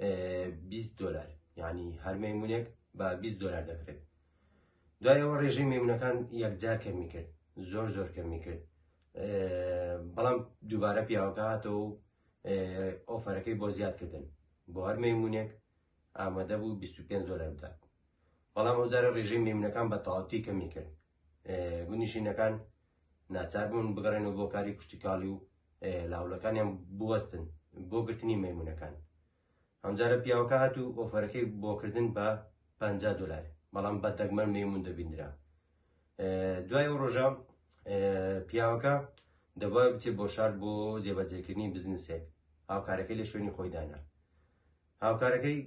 20 دلار یعنی هەر مەمونێک بە 20 دلار دەکرێت دوایەوە ڕێژەی مەمونونەکان یەکجار کەمی کرد زۆر زۆر کەمی کرد بەڵام دووبارە پیاوەکەاتەوە و ئۆفەرەکەی بۆ زیادکردن بۆ هەر مەمونونێک ئامادە بوو 25 دلار بدات بەڵام ئەوجارە ڕێژەی مەمونونەکان بە تاوتی کەمی کرد گوندنشینەکان ناچار بوون بگەڕێنەوە بۆ کاری کوشتیکاڵی و لاولەکانیان بوەستن بۆ گرتنی مەمونونەکان ئەمجارە پیاوەکە هات و ئۆفەرەکەی بۆکردن بە پ دلار بەڵام بە دەگمەن مەمون دەبیندرا دوای و ڕۆژە پیاوەکە دەبای بچێت بۆ شار بۆ جێبەجێکردنی بزنسێک هاوکارەکەی لە شوێنی خۆیدانا هاوکارەکەی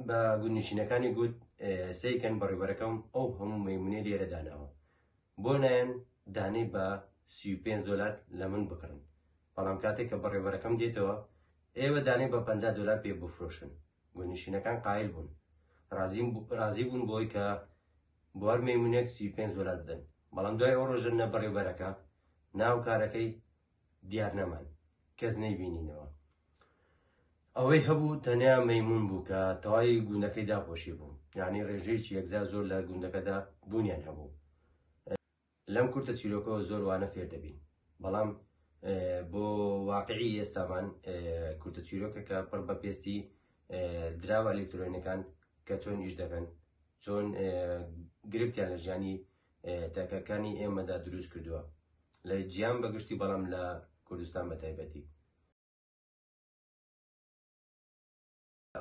بە گوندنشینەکانی گوت، سەیرکەن بەڕێوبەرەکەم ئەو هەموو مەیمونەی لێرە داناوە، بۆ نایەن دانەی بە سی و پێنج دۆلار لە من بکڕن، بەڵام کاتێک کە بەڕێوبەرەکەم دێتەوە، ئێوە دانەی بە پەنجا دۆلار پێ بفرۆشن. گوندنشینەکان قایل بوون، رازی بوون بەوەی کە بۆ هەر مەیمونێک سی و پێنج دۆلار بدەن، بەڵام دوای ئەو رۆژە نە بەڕێوبەرەکە، نە هاوکارەکەی دیار نەمان کەس نەیبینینەوە ئەوەی هەبوو تەنیا مەمون بوو کە تەواوی گوندەکەی داپۆشی بوو یعنی ڕێژەیەکی یەکجا زۆر لە گوندەکەدا بوونیان هەبوو لەم کورتە چیرۆکەوە زۆر وانە فێر دەبین بەڵام بۆ واقعی ئێستامان کورتە چیرۆکەکە پڕ بە پێستی دراوە ئەلکترۆنەکان کە چۆن ئیش دەکەن چۆن گرفتیان لە ژیانی تاکەکانی ئێمەدا دروست کردووە لە جیان بەگشتی بەڵام لە کوردستان بە تایبەتی.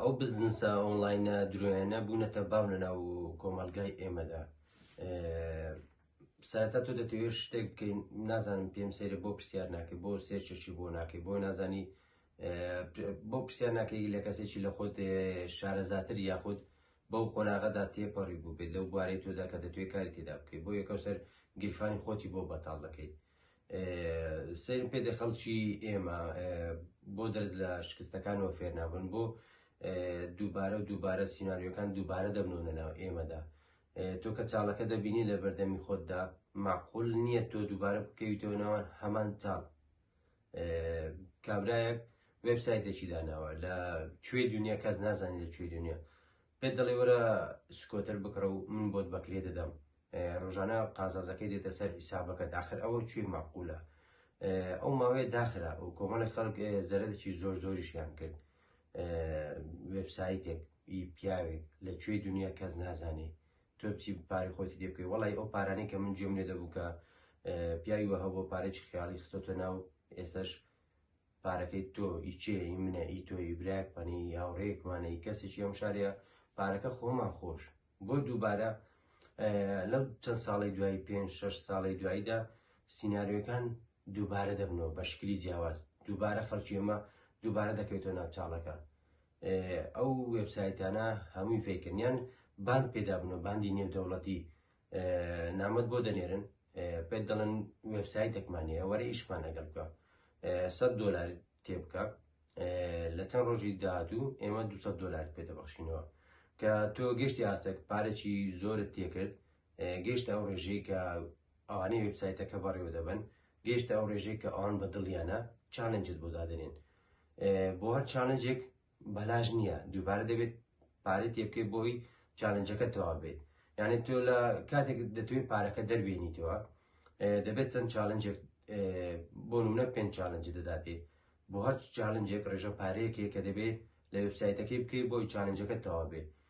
ئەو بزنسە ئۆنلاینە درۆیانە بوونەتە باو لەناو کۆمەلگای ئێمەدا ساتا تۆ دەتەوێت شتێک بکەین نازانم پێم سێرە بۆ پرسیار ناکەی بۆ سێرچەشی بۆ ناکەی بۆ نازانی بۆ پرسیار ناکەی لە کەسێکی لە خۆت شارەزاتر یاخود بەو قۆناغەدا تێپەڕیبوو بێت لەو بوارەی تۆدا کە دەتوێت کاری تێدا بکەیت بۆ یەکەوسەر گیرفانی خۆتی بۆ بەتاڵ دەکەیت سەیرم پێ دێ خەڵکی ئێمە بۆ دەرز لە شکستەکانەوە فێرنابن بۆ دووبارە و دووبارە سینناریۆکان دووبارە دەبنەوە ناو ئێمەدا تۆ کە چاڵەکە دەبینی لە بەردەمی خۆتدا معقول نییە تۆ دووبارە بکەویتەوە ناوان هەمان چاڵ کابرایەک وێبسایتێکی داناوە لە کوێ دنیا کەس نازانانی لە کوێ دنیا پێ دەڵێ وەرە سکۆتەر بکڕە و من بۆت بەکرێ دەدەم ڕۆژانە قازازەکەی دێتە سەر حیسابەکە داخر ئەوە کوێ ماقولە ئەو ماوەیە داخرا و کۆمەڵی خەڵک زەرەدەکی زۆر زۆریشیان کرد وێبسایتێک ئی پیاوێک لە کوێ دنیا کەس نازانێ تۆ چی پارەی خۆتی دێ بکەی وەڵی ئەو پارانەی کە من جێم لێ دەبوو کە پیاوی وە هەبوو پارێکی خیاڵی خستۆتە ناو ئێستش پارەکەی تۆ ئیچێ ئی منە ئی تۆی براک پەنی هاوڕێکمانەی کەسێکی ئەم شارەیە پارەکە خۆمان خۆش بۆ دووبارە لەو چەند ساڵی دوایی پێ شش ساڵی دواییدا سینناریۆکان دووبارە دەبنەوە بە شکلی جیاواز دووبارە خەڵکی ئەمە دووبارە دەکەوێتەوە ناوچاڵەکە ئەو وێبسایتانە هەمووی فەیکن یان باند پێدابنەوە باندی نێودەوڵەتی نامەت بۆ دەنێرن پێت دەڵێن وێبسایتێکمان هەیە وەرە ئیشمان لەگەڵ بکە سە دلار تێ بکە لە چەند ڕۆژی داهاتوو ئێمە 200 دلار پێ دەبخشینەوە کە تۆ گەشتی ئاستێک پارێکی زۆرت تێکرد گەیشتە ئەو ڕێژەی کە ئەوانەی وێبسایتەکە بەڕێوە دەبەن گەیشتە ئەو ڕێژەی کە ئەوان بە دڵیانە چالنجت بۆ دادنێن بۆ هەر چالنجێک بەلاش نییە دووبارە دەبێت پارەی تێبکەی بۆی چالنجەکە تەوا بێت یعنی تۆ لە کاتێک دەتوێت پارەکە دەربێنیتەوە دەبێت چەند چالنجێک بۆ نمونە پێنج چالنج دەداتێ بۆ هەر چالنجێک ڕێژە پارەیەکێک کە دەبێت لە وبسایتەکەی بکەیت بۆی چالنجەکە تەوا بێت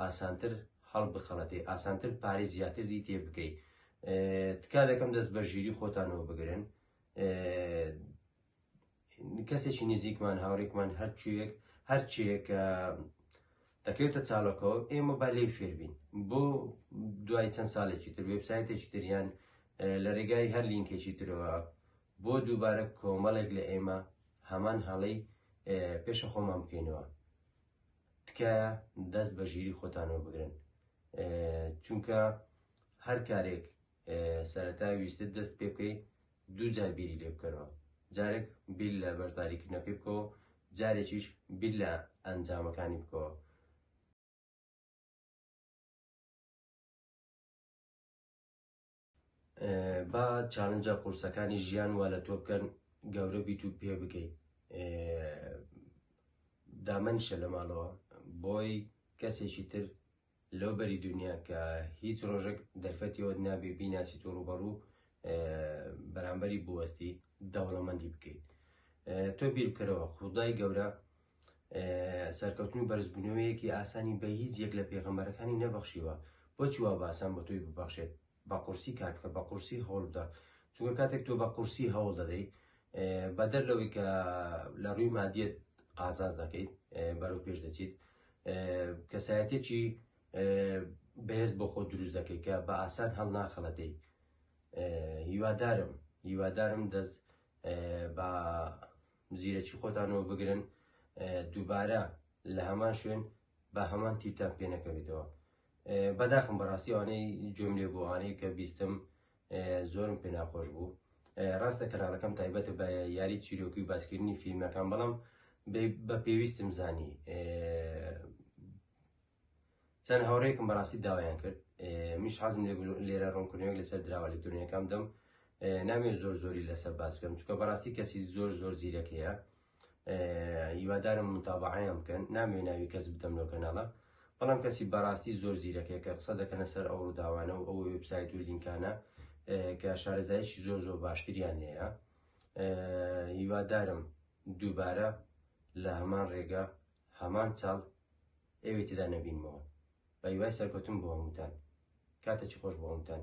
ئاسانتر هەڵبخەڵەتێ ئاسانتر پارەی زیاتری تێ بکەی تکا دەکەم دەست بە ژیری خۆتانەوە بگرن کەسێکی نزیکمان هاوڕێکمان هەرچێک هەرچێک دەکەوێتە چاڵەکەەوە ئێمە با لێ فێربین بۆ دوای چەند ساڵێکی تر وێبسایتێکی تریان لە ڕێگای هەر لینکێکی ترەوە بۆ دووبارە کۆمەڵێک لە ئێمە هەمان هەڵەی پێشە خۆمان بکەینەوە تکایە دەست بە ژیری خۆتانەوە بگرن چونکە هەر کارێک سەرەتا ویستت دەست پێ بکەی دوو جار بیری لێ بکەرەوە جارێک بیر لە بەرداریکردنەکەی بکەوە جارێکیش بیر لە ئەنجامەکانی بکەوە با چالنجە قورسەکانی ژیان وا لە تۆ بکەن گەورە بیت و پێ بگەیت دامەنیشە لە ماڵەوە بۆی کەسێکی تر لەو بەری دنیا کە هیچ ڕۆژێک دەرفەتیەوە نابێ بیناسی تۆ ڕوبەڕوو بەرامبەری بوەستی دەوڵەمەندی بکەیت تۆ بیرکەرەوە خودای گەورە سەرکەوتن و بەرزبوونەوەیەکی ئاسانی بە هیچ یەک لە پێغەمبەرەکانی نەبەخشیوە، بۆچی وا بە ئاسان بە تۆی ببەخشێت؟ بە قورسی کار بکە، بە قورسی هەوڵ بدە، چونکە کاتێک تۆ بە قورسی هەوڵ دەدەیت بەدەر لەوەی کە لە ڕووی مادیەت قازاز دەکەیت بەرەو پێش دەچیت کەسایەتێکی بەهێز بۆ خۆ دروست دەکەیت کە بە ئاسان هەڵ ناخەڵەتەی هیوادارم هیوادارم دەست بە زیرەکی خۆتان وە بگرن دووبارە لە هەمان شوێن بە هەمان تیتان پێ نەکەوێتەوە بەداخم بەڕاستی ئەوانەی جۆم لێ بۆوانەی کە بیستم زۆرم پێ ناخۆش بوو ڕاستە کەناڵەکەم تایبەتە بە یاری چیرۆکی و باسکردنی فیلمەکان بەڵام بە پێویستم زانی چەند هاوڕێکم بەڕاستی داوایان کرد میش حەزم لێرە ڕوونکردنەوەی لەسەر دراوە لەکترونیەکەم دەم نامێ زۆر زۆری لەسەر باسکەم چکە بەڕاستی کەسی زۆر زۆر زیرەکەیە هیوادارم متابعیان بکەن نامێ ناوی کەس بدەم لەو کەناڵە بەڵام کەسی بەڕاستی زۆر زیرەکەیە کە قسە دەکەنە سەر ئەو ڕووداوانە و ئەو وبسایت و لینکانە کە شارەزایشی زۆر زۆر باشتریان لێە هیوادارم دووبارە لە هەمان ڕێگە هەمان چاڵ ئێوەی تێدا نەبینمەوە بەهیوای سەرکەوتن بۆ هەمووتان کاتەکی خۆش بۆ هەمووتان